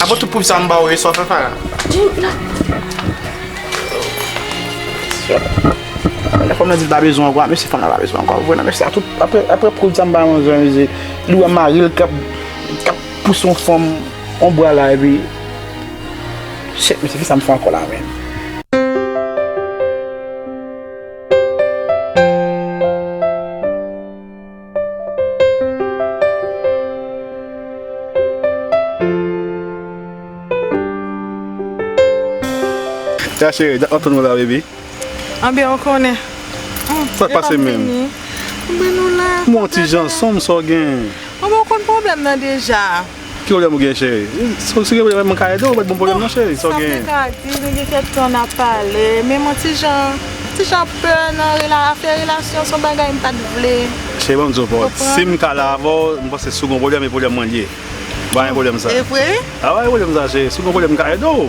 Apa tout pub sa m baw yo sa w fè Farah. Jimmy la. Lè fanm nan di l pa bezwen ankò a mèsi fanm nan pa bezwen ankò a vre nan mèsi a tout aprè aprè pub sa m bay manzè an mezi li wè mari l kap kap pouse yon fanm yon bra la epi shit mèsi kisa m fè ankò la menm. Ya cheri, dat map tann ou la baby. Anben ou konnen. Sak pase menm? Yo pap vini. Anben nou la. M'en yon ti jan sonm sa w gen. Anben ou konn pwoblèm nan deja. Ki problem ou gen cheri? Si gen problem mwen ka ede ou met bon problem non cheri sa ou gen. Sa mwen ka di nou gen kèk tan nap pale men mwen ti jan ti jan pè nan rela afè relasyon son bagay m pat vle. Cheri banm di w bon sim ka la avè w m panse si w gen yon problem e problem mwen l ye. Banm yon problem sa. Evre? Wi? Banm yon problem sa cheri si w gen yon problem m ka ede w.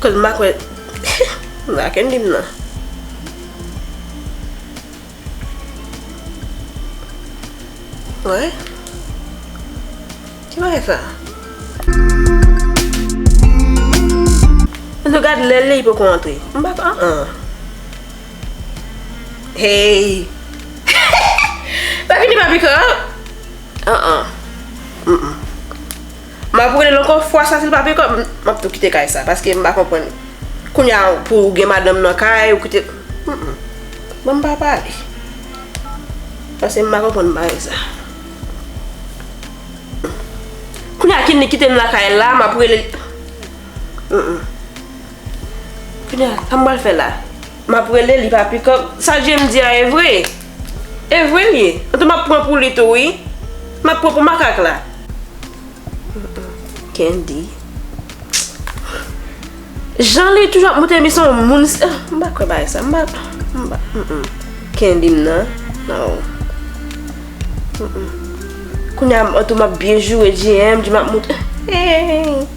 Kòl ma kwè Maken dim nan. Wè. Ki bagay sa. Annou gad lèl li poko antre. M pa k an an. Hey. Sa fini papika. An an. Map relel ankò fwa sa sil pa peko map tou kite kay sa paske m pa konprann kounya pou ou gen madanm nan kay ou kite bon m pa pale paske m pa konprann bagay sa kounya killi kitem lakay la map relel kounya sa m pral fè la map relel li pa piko sa jènn di a evre. Evre l ye? Antouka m ap pran pou li tou wi. M ap pran pou makak la. Kendy. Jan li toujou ap montre li se yon moun. M pa kwè bagay sa. M pa. M pa. Kendy m nan. Non. Kounya antouka m ap byen joure. JM di m ap montre. Hey!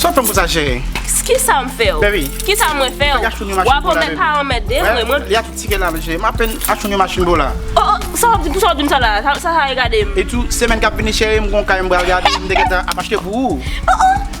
Sa w fè m konsa chere? Kisa m fè w? Baby. Kisa mwen fè w? W ap anmè pa anmède m mwen. Li a tout tike la chere. M apèn achoune machin pou w la. O o sa w ap di pou sa w di m sa la? Sa sa regade m? E tou semèn k ap vini chere m gon kay m pral gade m te gentan ap achte pou ou. O o.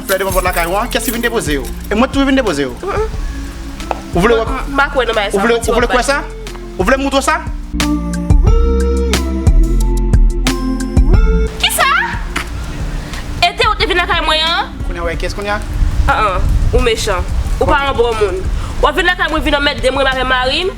Flè devan pòt lakay ou an, kiyès ki vin depoze yo? E mwen tou vin depoze yo? Ou vle wè? M pa kwè nan bagay sa. Ou vle kwè sa? Ou vle m moutre w sa? Kisa? Ete ou te vin lakay mwen an? Kounya wè kiyès kounya? An an, ou mechan. Ou pa yon bon moun. Wap vin lakay mwen vin anmèdem, remare mari m.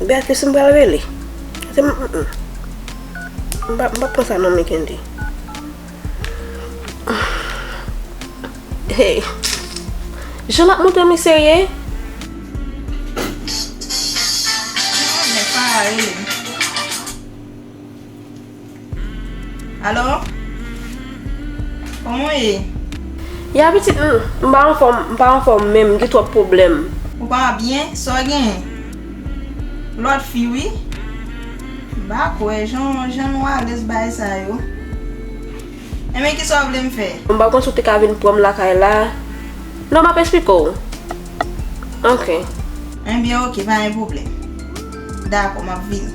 Beatrice m pral rele. Se m m m pa pran sa non Mickendy. Hey Jan lap montre m li serye. Nèg pa rele m. Alo? Kòman w ye? Ya pitit m, m pa anfòm, m pa anfòm menm, m gen twòp pwoblèm. Ou pa byen? Sa w genyen? Lòt fi wi. M pa kwè, jan w, jan nou alèz bagay sa yo. Enben kisa w vle m fè? M pa konn si w te ka vin pran m lakay la. Non m ap esplike w. Ok. Enben ok, pa gen pwoblèm. Dakò, m ap vini.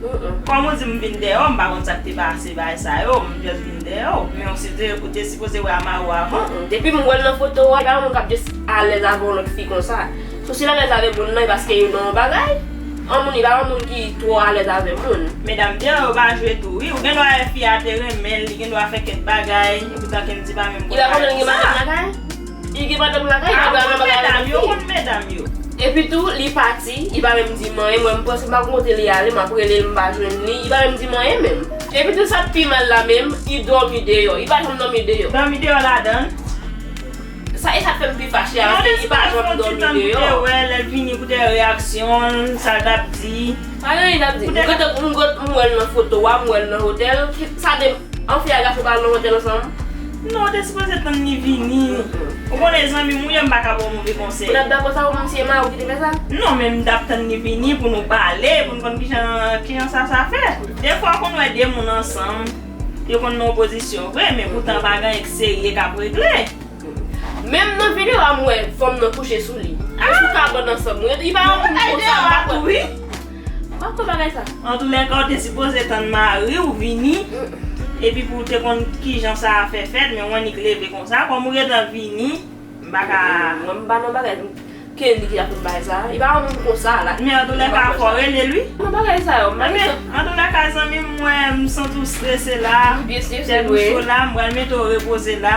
Kòm ou di m vin dèyè w, m pa konn sa k te pase bagay sa yo, m just vin dèyè w. Men ou si te, ou te sipoze wè Amaro avan m. Depi m wè l nan foto a, m pa yon moun k ap just alèz avè yon lòt fi konsa. Sou si l alèz avè moun nan, e paske yo nan yon bagay. Yon moun, li pa yon moun ki twò alèz avè moun. Medam deyò yo pa jwe tou wi. Ou gen dwa wè fi a te renmen l, li gen dwa fè kèk bagay, e poutan Kendy pa menm konn bagay konsa. Li pa konnen l gen madanm lakay? Li gen madanm lakay li pral nan bagay avèk li. Yo konn medam yo. Epi tou li pati li pa menm dim anyen mwen m panse m pa konn kote li ale map rele l m pa jwenn li li pa menm dim anyen menm. Epi tou sak pi mal la menm li dòmi deyò li pa janm dòmi deyò. Dòmi deyò ladan. Sa esat fèm pi fache a paske li pa janm dòmi deyò. Mwen espere pran ti tan pou te wèl lèl vini pou te reyaksyon l sa l tap di. Pa gen anyen lap di. M gentan m wèl nan foto a m wèl nan hotèl sa de anfen a gason pral nan hotèl ansanm Non ou te sipoze tann li vini. Ou konnen zanmim ou ye m paka baw move konsèy. Ou tap dakò sa ou menm si e mariw ki te fè sa? Non men m tap tann li vini pou nou pale pou nou konn kijan kijan sa sa fè. Defwa ou konn wè 2 moun ansanm yo konn nan opozisyon vre men poutan pa gen anyen ki serye kap regle. Menm nan video a m wè fanm nan kouche sou li. Èske ou ka bann ansanm? Li pa yon moun konsa m pa kwè. Mpa kwè bagay sa. Antoulèka ou te sipoze tann mariw vini epi pouw te konn kijan sa a fè fèt men ou annik leve konsa kòm ou gentan vini mpaka Mwen mpa nan bagay m Kelly ki ta fout bay sa li pa yon moun konsa la Men antoulèka fò relel wi Nan bagay sa yo Mpa gen tan Antoulèka zanmim mwen msanti w strese la Ou byen strese vre Tèt ou cho la mpral mete w repoze la.